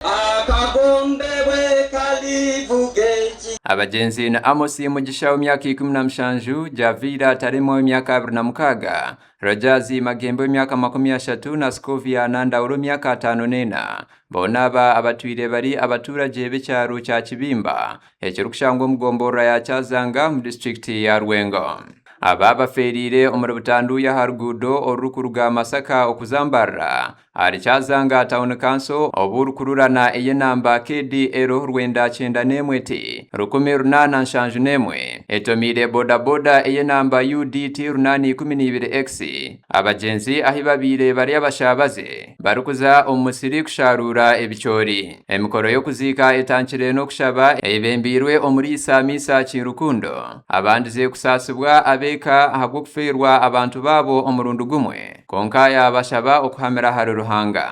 Akagombe bwe kalivuga eki. Abagyenzi ni Amos Mugisha w'emyaka ikumi na mushanju, Javiira Taremwa w'emyaka abiri na mukaaga, Rogers Magembe w'emyaka makumi ashatu na Scovia Nandaura ow'emyaka ataano n'ena. Boona aba abatwire bari abatuuragye b'ekyaro kya Kibimba ekirikushangwa omu gomborora ya Kyazanga omu disiturikiti ya Rwengo. Aba bafeereire omuri Butanduuya aha ruguudo orurikuruga Masaka okuza Mbarara Ahari Kyazanga Town Council obu orikururana ey'enamba KDL rwenda kyenda n'emwe T rukumi runaana nshanju n'emwe etomiire bodaboda ey'enamba UDT runaana ikumi n'ibiri X abagyenzi ahi babaire bari abashaabaze barikuza omu musiri kushaaruura ebicoori. Emikoro y'okuziika etangire n'okushaba eyebembeirwe omuriisa Misa Kiirukundo abandize kusaasibwa ab'eka ahabw'okufeerwa abantu baabo omurundi gumwe. Kwonka yaabashaba okuhamira ahari Ruhanga.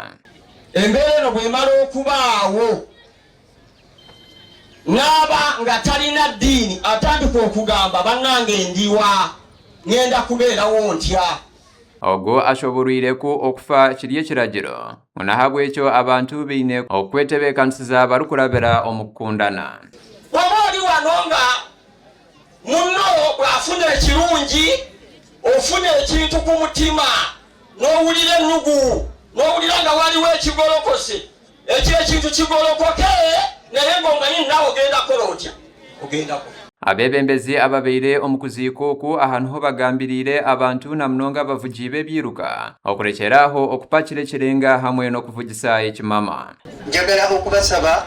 Embeera eno bw'emara okubaawo, naaba nga tarina diini atandika okugamba, Banange ndi wa? Ngenda kubeerawo ntya? Ogwo ashobooroire ku okufa kiri ekiragiro, ngu n'ahabw'ekyo abantu baine okukwetebeekanisiza barikurabira omu kukundana. Waba ori wa n'onga Muno bwafunire kirungi ofunire ekintu ku mutima, n'owurira enugu, n'owurira nga wariwo ekigorokose, ekyo ekintu kigorokoke, naye ngo manyini nawe ogenda kukora otya? Ogenda kufa. Abebembezi ababaire omu kuziika oku aha niho bagambiriire abantu na munonga abavugi b'ebiiruka okurekyera aho okupakira ekirenga hamwe n'okuvugisa ekimama. Njagara okubasaba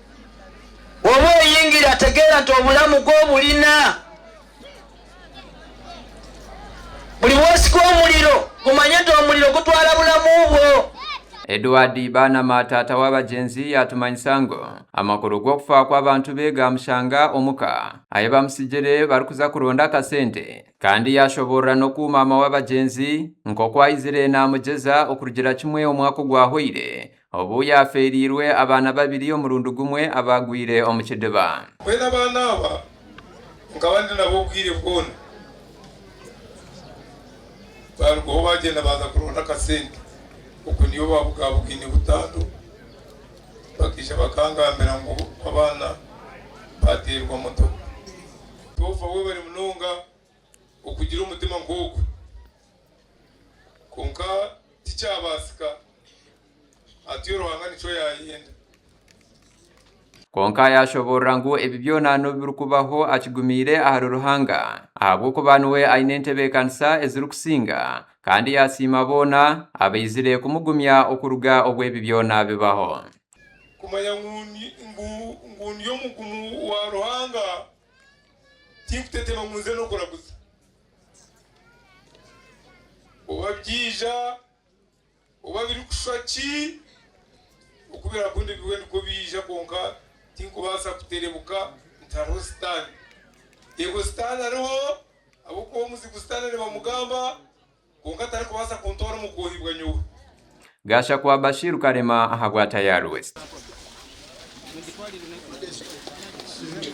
Obu oyingira ategeera nti obulamu bwe oburina buri bwosika omuriro, gumanye nti omuriro gutwara bulamu bwo. Edward Baanama taata w'abagyenzi yaatumanyisa ngu amakuru g'okufa kw'abantu be gaamushanga omu ka ahi baamutsigire barikuza kuronda akasente kandi yaashoboorora n'oku maama w'abagyenzi nk'oku aizire naamugyeza okurugira kimwe omwaka ogwahweire Obu yaafeereirwe abaana babiri omurundi gumwe abaagwire omu kidiba. Mbwenu abaana aba nkaba ndi nabo obwire bwona. Baarugaho baagyenda baaza kuronda akasente okwo niyo baabugaabugaine butandwa. Bakaija bakangambira ngu abaana baateerwa motoka. Tofa webare munonga. okugira omutima nk'ogu. Kwonka tikyabaasika. Hati-o Ruhanga nikyo yaayenda. Kwonka yaashoboorora ngu ebi byona n'obu birikubaho akigumiire ahari Ruhanga, ahabw'okuba niwe aine entebeekanisa ezirikusinga, kandi yaasiima boona abaizire kumugumya okuruga obu ebi byona bibaho. Kumanya ngu ndi omugumu wa Ruhanga Tikutetema ngu nze n'okuraguza. Oba byaija, oba birikushwa ki, oku birakunda ebiwe nikwo biija kwonka tinkubaasa kuterebuka nti hariho Sitaane. Yego Sitaane ariho ahabw'okuba omuzigu Sitaane nibamugamba kwonka tarikubaasa kuntwara omu kwohibwa nyowe. Gashakwa Bashir Karema ahabwa Tayari West.